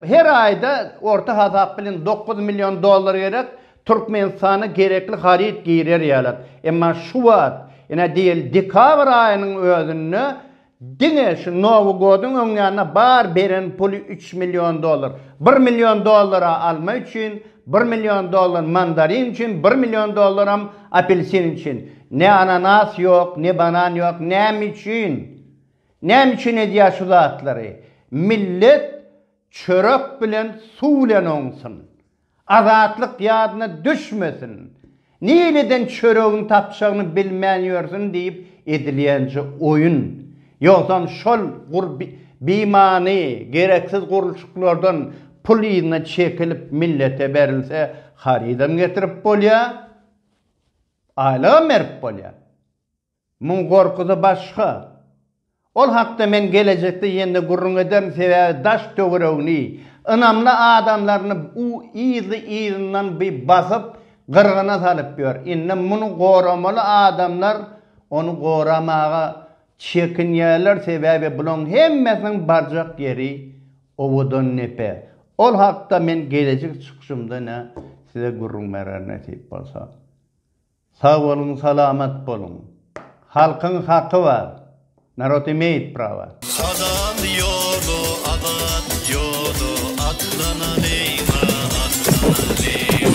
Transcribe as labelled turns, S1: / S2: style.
S1: Her aýda orta hasap bilen dokuz million dollar gerek, Türkmenistana gerekli haryt girer ýaly. Emma şu wagt, ine diýeli dekabr aýynyň özünde diňe şu Nowy goduň öňýanyna bar beren puly üç million dollar. Bir million dollara alma üçin, bir million dollar mandarin üçin, bir million dollaram apelsin üçin. Ne ananas ýok, ne banan ýok. Näme üçin? Näme üçin edýär şu zatlary. Millet çörek bilen suw bilen oňsun. Azatlyk ýadyna düşmesin. Nireden çöregiň tapjagyny bilmän ýörsün diýip edilýänje oýun. Ýogsam şol gur bimany gereksiz gurluşyklardan pul yzyna çekilip millete berilse harydam getirip bolýar. Aýlygam berip bolýar. Muň gorkusy başga. Ol hakda men gelejekde ýene-de gürrüň ederin, sebäbi daş-töweregini, ynamly adamlaryny u yzly-yzyndan bi basyp, gyrgyna salyp ýör. Indi muny goramaly adamlar ony goramaga çekinýärler, sebäbi bulaň hemmesiniň barjak ýeri Owadandepe. Ol hakda men gelejek çykyşymda-ne size gürrüň bererin nesip bolsa. Sag boluň salamat boluň. Halkyň haky bar. Narod imeýit prawa. Halal ýola azat ýola atlanalyň a atlanalyň.